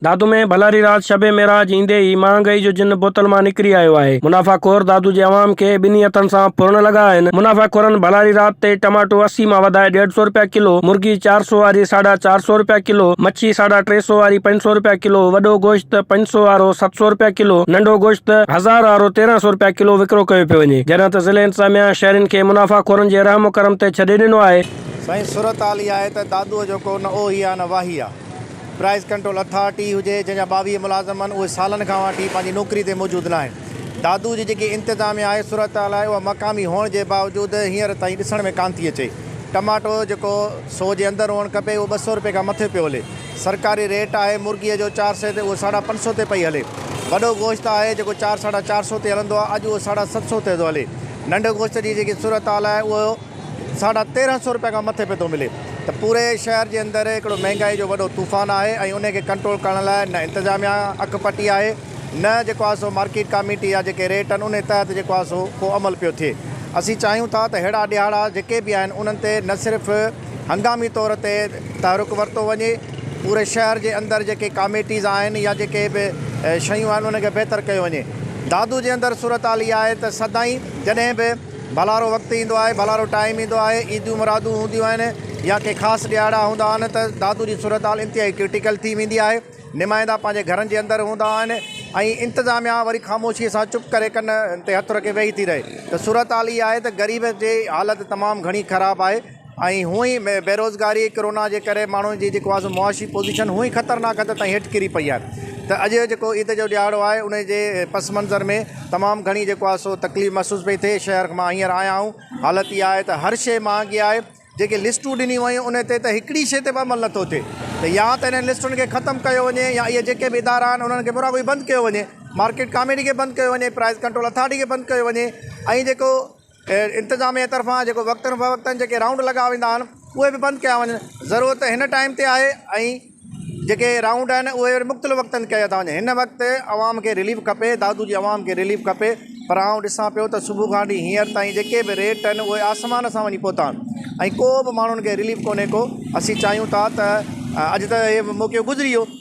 دادو ۾ ڀلاري رات شب معراج ايندي ئي مهانگئي جو جن بوتل مان نڪري آيو آهي. منافعه خور دادو جي عوام کي ٻنهي هٿن سان ڦرڻ لڳا آهن. منافعه خورن ڀلاري رات تي ٽماٽو اسي مان وڌائي ڏيڍ سو رپيا ڪلو، مرغي چار سو واري ساڍا چار سو رپيا ڪلو، مڇي ساڍا ٽي سو واري پنج سو رپيا ڪلو، وڏو گوشت پنج سو وارو ست سو رپيا ڪلو، ننڍو گوشت هزار وارو تيرهن سو رپيا ڪلو وڪرو ڪيو پيو وڃي. جڏهن ته ضلعي انتظاميا شهرين کي منافعه خورن جي رحم و ڪرم تي ڇڏي ڏنو آهي. سائين صورت حال اها آهي ته دادوء جو ڪو نه اوهي آهي نه واهي آهي. پرائز ڪنٽرول اٿارٽي هجي جنهن جا ٻاويهه ملازم آهن اهي سالن کان واٺي پنهنجي نوڪري تي موجود ناهن. دادو جي جيڪي انتظاميه آهي صورتحال آهي اها مقامي هئڻ جي باوجود هينئر تائين ڏسڻ ۾ ڪانه ٿي اچي. ٽماٽو جيڪو سو جي اندر هئڻ کپي اهو ٻه سئو رپئي کان مٿي پيو هلي. سرڪاري ريٽ آهي مرغي جو چار سئي تي اهو ساڍا پنج سئو تي پئي هلي. وڏو گوشت آهي جيڪو چار ساڍا چار سئو تي هلندو آهي اڄ اهو ساڍا ست سئو تي ٿو هلي. ننڍ گوشت جي جيڪي صورتحال آهي اهو. ساڍا تيرهن سئو رپيا کان مٿي پئي ٿو ملي ته پوري شهر جي اندر هڪڙو مهنگائي جو وڏو طوفان آهي ۽ ان کي ڪنٽرول ڪرڻ لاء نه انتظاميا اک پٽي آهي نه جيڪو آهي سو مارڪيٽ ڪاميٽي جا جيڪي ريٽ آهن انهي تحت جيڪو آهي سو ڪو عمل پيو ٿئي اسين چاهيون ٿا ته ههڙا ڏيهاڙا جيڪي به آهن انهن تي نه صرف هنگامي طور تي تحرڪ ورتو وڃي پوري شهر جي اندر جيڪي ڪاميٽيز آهن يا جيڪي به شيون آهن انهن کي بهتر ڪيو وڃي دادو جي اندر صورتحال اها آهي ته سدائين جڏهن به ڀلارو وقت ايندو آهي، ڀلارو ٽائيم ايندو آهي، عيدون مرادون هونديون آهن يا ڪي خاص ڏهاڙا هوندا آهن ته دادو جي صورتحال انتهائي ڪرٽيڪل ٿي ويندي آهي، نمائندا پنهنجي گهرن جي اندر هوندا آهن ۽ انتظاميا وري خاموشيء سان چپ ڪري ڪن تي هٿ رکي ويهي ٿي رهي ته صورتحال اها آهي ته غريب جي حالت تمام گهڻي خراب آهي. ۽ هونء ئي بيروزگاري ڪرونا جي ڪري ماڻهن جي جيڪو آسو معاشي پوزيشن هونء ئي خطرناڪ حد تائين هيٺ ڪري پئي آهي ته اڄ جيڪو عيد جو ڏهاڙو آهي ان جي پس منظر ۾ تمام گهڻي جيڪو آهي سو تڪليف محسوس پئي ٿئي شهر مان هينئر آيا آهيون حالت اها آهي ته هر شيء مهانگي آهي جيڪي لسٽون ڏنيون ويون ان تي ته هڪڙي شيء تي به عمل نٿو ٿئي ته يا ته انهن لسٽن کي ختم ڪيو وڃي يا اهي جيڪي به ادارا آهن انهن کي پورا بند ڪيو وڃي مارڪيٽ ڪاميٽي کي بند ڪيو وڃي پرائز ڪنٽرول اٿارٽي کي بند ڪيو وڃي ۽ جيڪو انتظاميه طرفان جيڪو وقتن فوقتن جيڪي رائونڊ لڳا ويندا آهن اهي به بند ڪيا وڃن ضرورت هن ٽائيم تي آهي ۽ جيڪي رائونڊ آهن اهي وري مختلف وقتن ڪيا ٿا وڃن هن وقت عوام کي رليف کپي دادو جي عوام کي رليف کپي پر آئون ڏسان پيو ته صبح کان وٺي هينئر تائين جيڪي به ريٽ آهن اهي آسمان سان وڃي پهتا آهن ۽ ڪو به ماڻهن کي رليف ڪونهي ڪو اسين چاهيون ٿا ته اڄ ته هي موقعو گذري ويو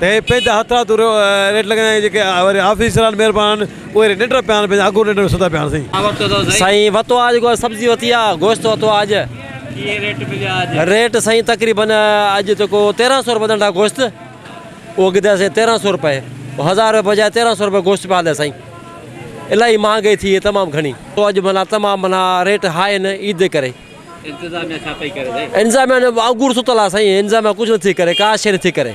ته هي پنهنجا هٿ رات جو ريٽ لڳائين ۽ جيڪي وري آفيسر آهن مهربان اهي ري ننڊ پيا آهن پنهنجا اڳ ننڊ ۾ ستا پيا آهن سائين. سائين وتو آج جيڪو سبزي وتي آ گوشت وتو آج ڪيئن ريٽ مليا آج ريٽ سائين تقريبن اڄ جيڪو تيرهن سؤ روپيه ننڊا گوشت اهو ڳڌا سائين تيرهن سؤ روپيه هزار روپيه بجاء تيرهن سؤ روپيه گوشت پيا هليا سائين الاهي مهانگائي ٿي وئي تمام گهڻي اڄ معنيٰ تمام معنيٰ ريٽ هاء آهن عيد جي ڪري. انتظاميا جو وانگور ستل آ سائين انتظاميا ڪجھ نٿي ڪري ڪا شئي نٿي ڪري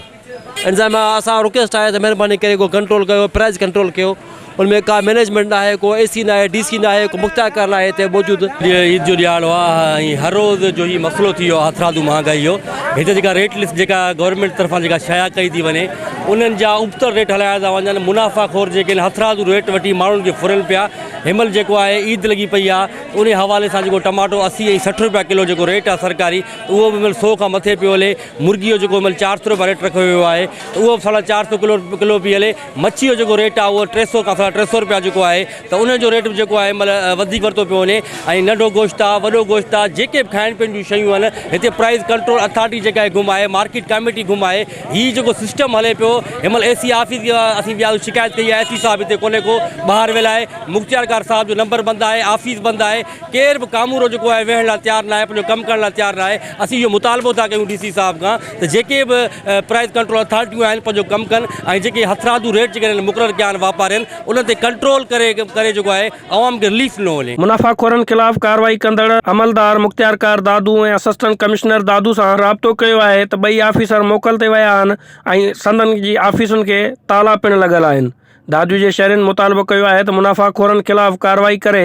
انتظاميا اسان رڪيسٽ آهي ته مھرباني ڪري ڪو ڪنٽرول ڪيو پرائز ڪنٽرول ڪيو ان ۾ ڪا مينيجمينٽ ناهي ڪو اي سي ناهي ڊي سي ناهي ڪو مختيارڪار ناهي هتي موجود. عيد جو ڏيھاڙو آ ۽ ھر روز جو ھي مسئلو ٿي ويو آ ھٿرادو مھانگائي جو ھتي جيڪا ريٽ لسٽ جيڪا گورنمينٽ طرفان جيڪا شايع ڪئي ٿي وڃي انھن جا ابتڙ ريٽ ھلايا ٿا وڃن منافع خور جيڪي ھٿرادو ريٽ وٺي ماڻھن کي ڦرن پيا ھنمھل جيڪو آھي عيد لڳي پئي آ انهي حوالي سان جيڪو ٽماٽو اسي ۽ سٺ روپيا ڪلو جيڪو ريٽ آهي سرڪاري ته اهو به هن مهل سو کان مٿي پيو هلي مرغي جو جيڪو هن مهل چار سو روپيا ريٽ رکيو ويو آهي ته اهو به ساڍا چار سو ڪلو ڪلو پئي هلي مڇي جو جيڪو ريٽ آهي اهو ٽي سو کان ساڍا ٽي سو روپيا جيڪو آهي ته ان جو ريٽ به جيڪو آهي هن مهل وڌيڪ ورتو پيو وڃي ۽ ننڍو گوشت آهي وڏو گوشت آهي جيڪي به کائڻ پيئڻ جون شيون آهن هتي پرائز ڪنٽرول اٿارٽي جيڪا آهي گم آهي مارڪيٽ ڪاميٽي گم آهي هي جيڪو سسٽم هلي پيو هن مهل اي سي آفيس اسين وياسين شڪايت ڪئي آهي اي سي صاحب هتي ڪونهي ڪو ٻاهر ويل آهي مختيارڪار صاحب جو نمبر بند آهي آفيس بند آهي ڪير به ڪامورو جيڪو آهي ويهڻ لاء تيار ناهي پنهنجو ڪم ڪرڻ لاء تيار ناهي اسين اهو مطالبو ٿا ڪيون ڊي سي صاحب کان ته جيڪي به پرائز ڪنٽرول اٿارٽيون آهن پنهنجو ڪم ڪن ۽ جيڪي هٿرادو ريٽ جيڪي مقرر ڪيا آهن واپارين انهن تي ڪنٽرول ڪري ڪري جيڪو آهي عوام کي رليف نه ملي. منافعه خورن خلاف ڪارروائي ڪندڙ عملدار مختيارڪار دادو ۽ اسسٽنٽ ڪمشنر دادو سان رابطو ڪيو آهي ته ٻئي آفيسر موڪل تي ويا آهن ۽ سندن جي آفيسن کي تالا پڻ لڳل آهن دادو جي شهرين مطالبو ڪيو آهي ته منافعه خورن خلاف ڪارروائي ڪري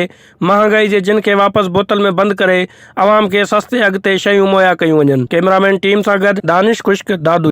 مهانگائي جي جن کي واپس بوتل ۾ بند ڪري عوام کي سستي اگهه تي شيون مهيا ڪيون وڃن ڪئميرامين ٽيم سان گڏ دانش خشڪ دادو.